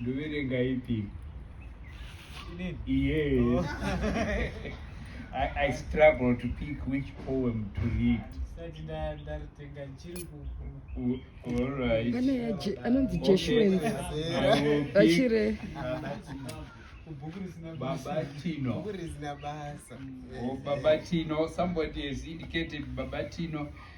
Ndoverenga ipi? Yes. I, I struggle to pick which poem to read. Alright. anonzi jeshuens vachire babatino babatino somebody has indicated babatino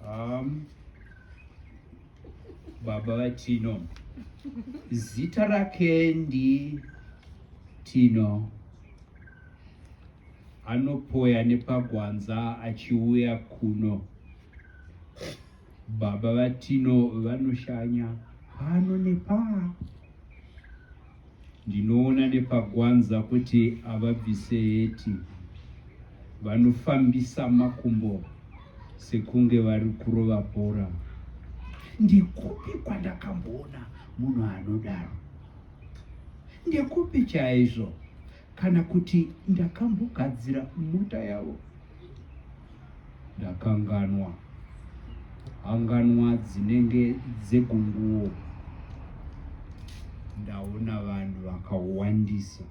Um, baba vatino zita rake ndi tino anopoya nepagwanza achiuya kuno baba vatino vanoshanya pano nepaa Ndinoona nepagwanza kuti avabvise heti vanofambisa makumbo sekunge vari kurova bhora. Ndikupi kwandakamboona munhu anodaro? Ndekupi chaizvo? Kana kuti ndakambogadzira mota yavo? ndakanganwa hanganwa dzinenge dzegunguwo ndaona vanhu vakawandisa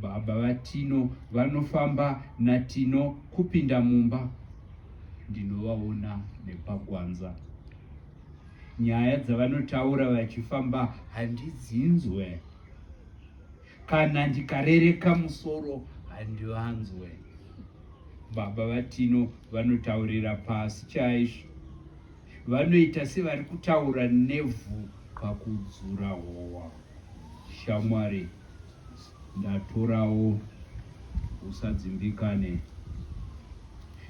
baba vatino vanofamba natino kupinda mumba ndinovaona nepagwanza nyaya dzavanotaura vachifamba handidzinzwe kana ndikarereka musoro handivanzwe baba vatino vanotaurira pasi chaizvo vanoita sevari kutaura nevhu pakudzura howa shamwari ndatorawo usadzimbikane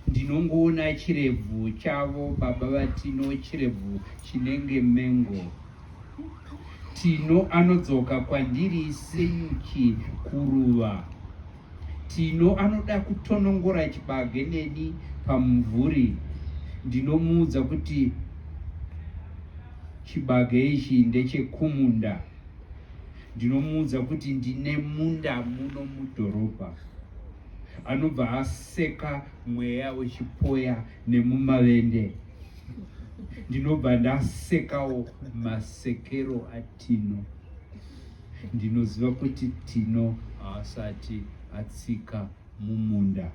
Ndinongoona chirebvu chavo baba vatino chirebvu chinenge mengo. Tino anodzoka kwandiri senyuchi kuruva. Tino anoda kutonongora chibage neni pamumvuri. Ndinomuudza kuti chibage ichi ndechekumunda ndinomuudza kuti ndine munda muno mudhorobha anobva aseka mweya wechipoya nemumavende ndinobva ndasekawo masekero atino ndinoziva kuti tino haasati atsika mumunda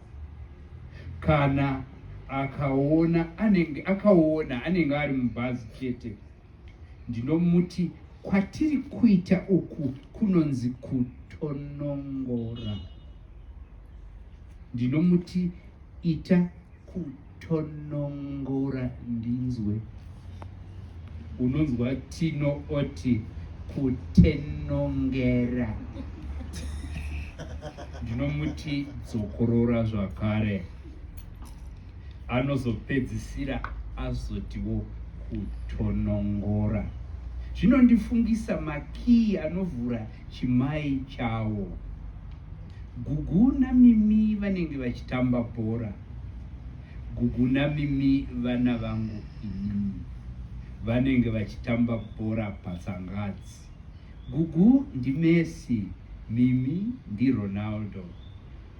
kana akaona anenge akaona anenge ari mubhazi chete Ndinomuti kwatiri kuita uku kunonzi kutonongora. Ndinomuti ita kutonongora ndinzwe. Unonzwa tino oti kutenongera. Ndinomuti dzokorora zvakare. anozopedzisira azotiwo kutonongora zvinondifungisa makiyi anovhura chimai chawo gugu namimi vanenge vachitamba bhora gugu namimi vana vangu inini vanenge vachitamba bhora patsangadzi gugu ndimesi mimi ndironaldo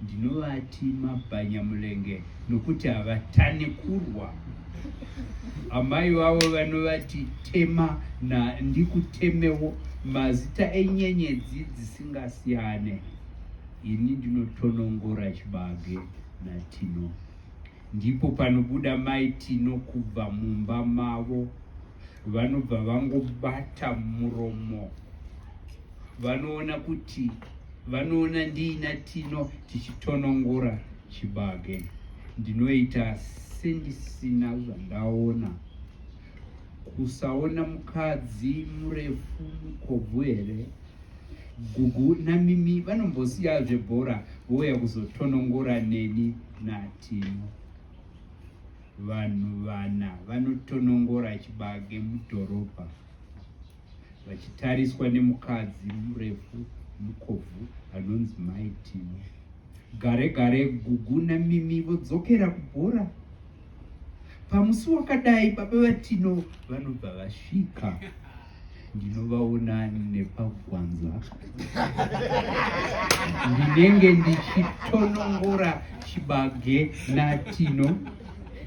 Ndinovati mabhanyamulenge nokuti havatane kurwa. Amai vavo vanovati tema na ndikutemewo mazita enyenyedzi dzisingasiyane. Ini ndinotonongora chibage naTino. Ndipo panobuda mai Tino kubva mumba mavo vanobva vangobata muromo. vanoona kuti vanoona ndiina tino tichitonongora chibage ndinoita sendisina zvandaona kusaona mukadzi murefu mukobvu here gugu namimi vanombosiya zvebhora vouya kuzotonongora neni natino vanhu vana vanotonongora chibage mudhorobha vachitariswa nemukadzi murefu mukobvu anonzi mai timo gare gare gugu namimi vodzokera kubhora pamusi wakadai baba vatino vanobva vasvika ndinovaona nepagwanza ndinenge ndichitonongora chibage natino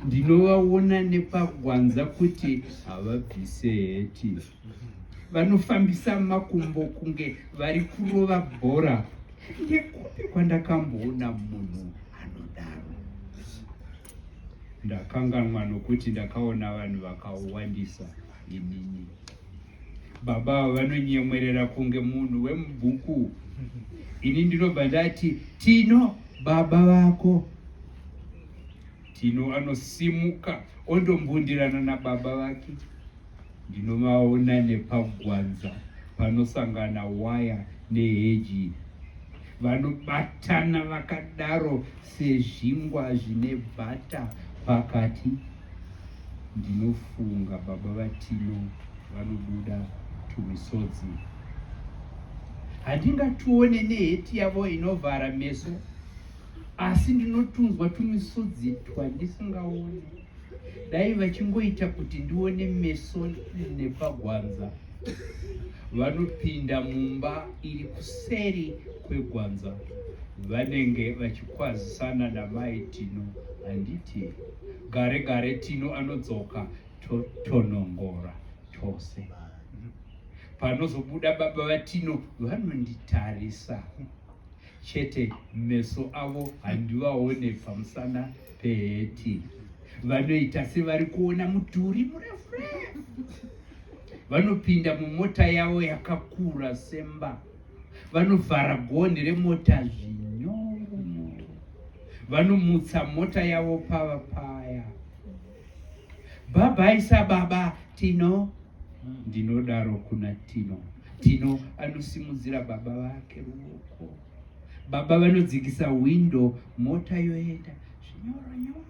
ndinovaona nepagwanza kuti havabvise heti vanofambisa makumbo kunge vari kurova bhora ndekupi kwandakamboona munhu anodaro ndakanganwa nokuti ndakaona vanhu vakawandisa inini baba avo vanonyemwerera kunge munhu wemubhuku ini ndinobva ndati tino baba vako Tino anosimuka ondombundirana nababa vake. Ndinovaona nepagwanza panosangana waya neheji. Vanobatana vakadaro sezvingwa zvine bhata pakati. Ndinofunga baba vaTino vanobuda tumisodzi. Handingatione neheti yavo inovhara meso asi ndinotunzwa tumisodzi twandisingaoni dai vachingoita kuti ndione meso nepagwanza vanopinda mumba iri kuseri kwegwanza vanenge vachikwazisana namai tino handiti gare gare tino anodzoka totonongora tose panozobuda baba vatino vanonditarisa chete meso avo handivaone pamusana peheti vanoita sevari kuona mudhuri murefurefu vanopinda mumota yavo yakakura semba vanovhara gonhi remota zvinyoro vanomutsa mota yavo pava paya bhabhai sababa tino ndinodaro kuna tino tino anosimudzira baba vake ruoko baba vanodzikisa windo mota yoenda zvinyoronyoro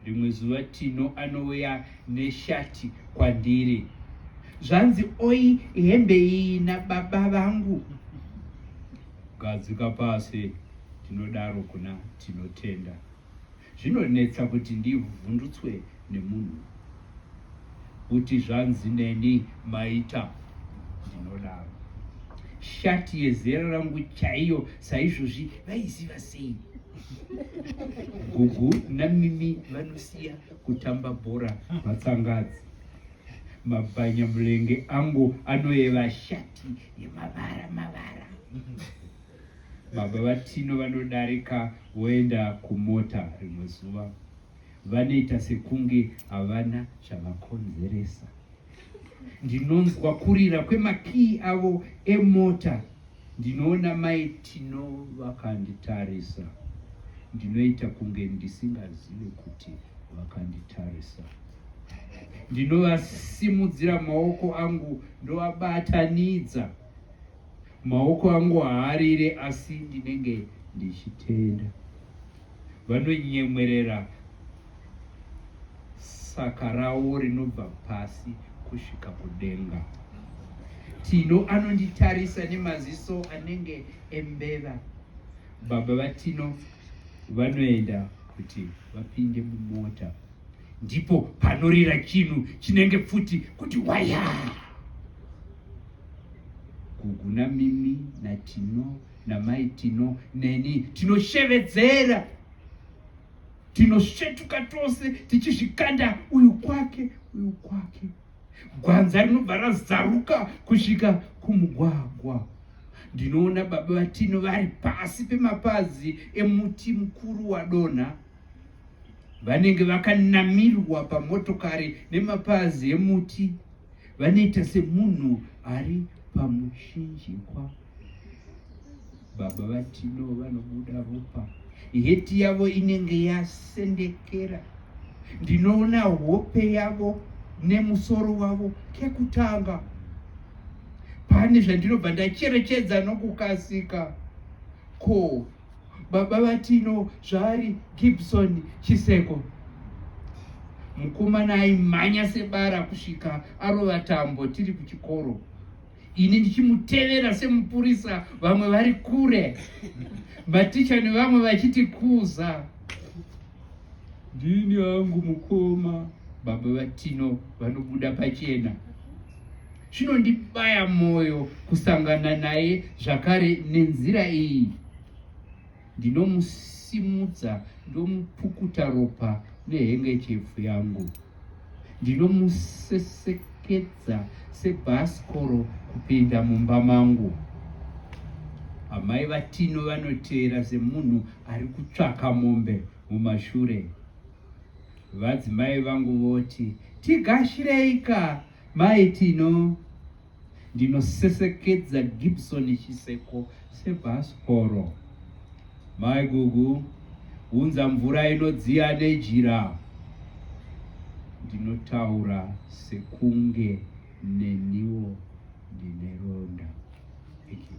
rimwe zuva tino anouya neshati kwandiri zvanzi oi hembe iyi nababa vangu gadzika pasi tinodaro kuna tinotenda Zvinonetsa kuti ndivhundutswe nemunhu kuti zvanzi neni maita ndinodaro. Shati yezera rangu chaiyo saizvozvi vaiziva sei? Gugu namimi vanosiya kutamba bhora vatsangadzi. Mabhanya mulenge angu anoyeva shati yemavara mavara. Baba vaTino vanodarika voenda kumota rimwe zuva. Vanoita sekunge havana chavakonzeresa. Ndinonzwa kurira kwemakii avo emota. Ndinoona mai Tino vakanditarisa. Ndinoita kunge ndisingazive kuti vakanditarisa. Ndinovasimudzira maoko angu ndovabatanidza. Maoko angu haarire asi ndinenge ndichitenda. Vanonyemwerera saka rawo rinobva pasi kusvika kudenga. Tino anonditarisa nemaziso anenge embeva. Baba vaTino vanoenda kuti vapinde mumota. Ndipo panorira chinhu chinenge pfuti kuti wayaa. gugu namimi natino namai tino neni tinoshevedzera tinosvetuka tose tichizvikanda uyu kwake uyu kwake gwanza rinobva razaruka kusvika kumugwagwa ndinoona baba vatino vari pasi pemapazi emuti mukuru wadonha vanenge vakanamirwa pamotokari nemapazi emuti vanoita semunhu ari pamushinjikwa baba vatino vanobuda ropa heti yavo inenge yasendekera ndinoona hope yavo nemusoro wavo kekutanga pane zvandinobva ndacherechedza nokukasika ko Baba vaTino zvaari Gibson Chiseko. Mukomana aimhanya sebara kusvika arova tambo tiri kuchikoro ini ndichimutevera semupurisa vamwe vari kure maticha nevamwe vachiti kuza ndini hangu mukoma baba vatino vanobuda pachena Zvinondibaya moyo kusangana naye zvakare nenzira iyi. Ndinomusimudza ndomupukuta ropa nehengechefu yangu. Ndinomusesekedza sebhasikoro kupinda mumba mangu. Amai vaTino vanoteera semunhu ari kutsvaka mombe mumashure. Vadzimai vangu voti, Tigashirei ka! Mai Tino, ndinosesekedza Gibson Chiseko sebhasikoro. Mai Gugu, unza mvura inodziya nejira. Ndinotaura sekunge neniwo ndine ronda. Thank you.